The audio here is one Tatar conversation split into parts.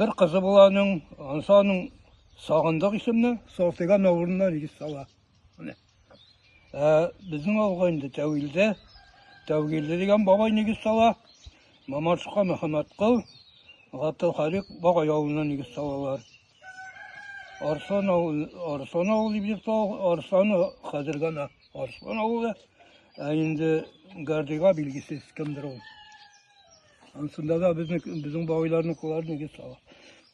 Бер кызы була аның, анысы аның Сагындык исемле, Салтыган авылыннан егет сала. Менә. Ә, безнең авылга инде Тәвилдә, Тәвилдә дигән бабай егет сала. Мамашка Мөхәммәткол, Гатылхалик бабай авылыннан егет салалар. Арслан авылы, Арслан авылы дип йөртә, Арслан хәзер генә Арслан авылы, ә инде Гардига билгесез кемдер ул. Ансында да безнең безнең бабайларның куллары нигез сала.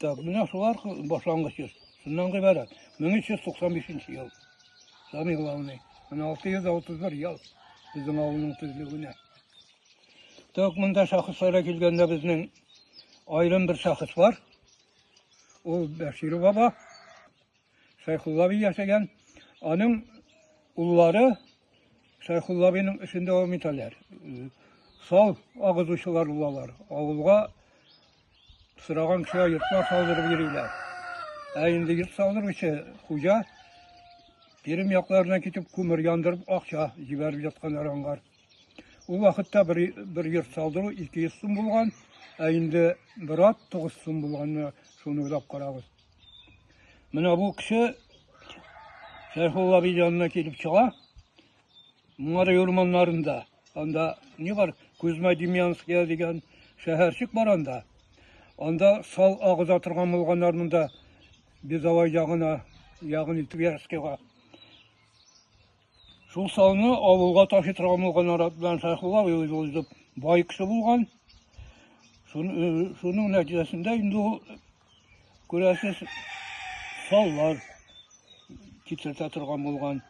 Так, менә шулар башлангыч йорт. Шуннан гыйбарәт. 1395 ел. Самый главный. Менә 631 ел безнең авылның төзелүенә. Так, монда шәхесләргә килгәндә безнең аерым бер шәхес бар. Ул Бәшир баба, Шәйхулла би яшәгән. Аның уллары Шәйхулла биның эшен дәвам итәләр. Сал агызучылар булалар. Авылга сыраган кешегә йортка салдырып йөриләр. Ә инде йорт салдыручы хуҗа Пермь якларына китеп күмер яндырып акча җибәреп ятканнар аңгар. Ул вакытта бер, бер йорт салдыру 200 сум булган, ә инде бер ат 9 сум булганны шуны уйлап карагыз. Менә бу кеше Шәрхулла бей янына килеп чыга. Моңары урманнарында, анда не бар, Кузьма Демьянская дигән шәһәрчек бар анда. Анда сал агыза торган булганнар монда Безавай ягына, ягын Тверскига. Шул салны авылга таши торган булган арат белән Шәйхулла абый үзе узып бай кеше булган. Шуның нәтиҗәсендә инде ул күрәсез саллар китертә торган булган.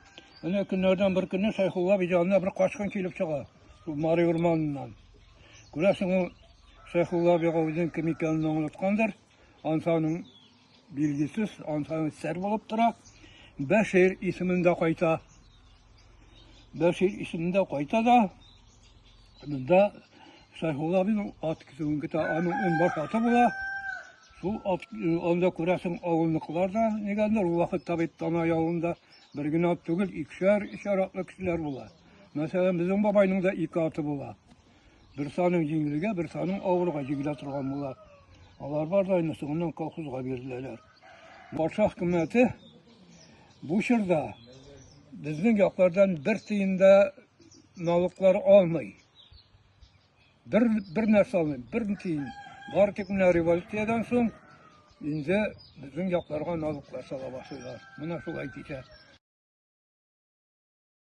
Менә көннәрдән бер көнне Шәйхулла абый янына бер качкын килеп чыга. Шул Мари урманыннан. Күрәсең ул Шәйхулла абыйга үзенең кем икәнен аңлаткандыр. Ансаның билгесез, ансаның сәр булып тора. Бәшир исемендә кайта. Бәшир исемендә кайта да, монда Шайхулла абының ат көтүен көтә, аның унбаш аты була. Шул ат, э, анда күрәсең авылныкылар да, нигәндер, ул вакыт табип тана явында бер генә ат түгел, икешәр, өчәр атлы кешеләр була. Мәсәлән, безнең бабайның да ике аты була. Бер саның җиңелгә, бер саның авырга җигелә торган була. Алар бар да инде соңыннан колхозга биреләләр. Патша хөкүмәте бу чорда безнең яклардан бер тиен дә налоглар алмый. Бер, бер нәрсә алмый, бер тиен. Бар тик менә революциядән соң инде безнең якларга налоглар сала башлыйлар. Менә шулай китә.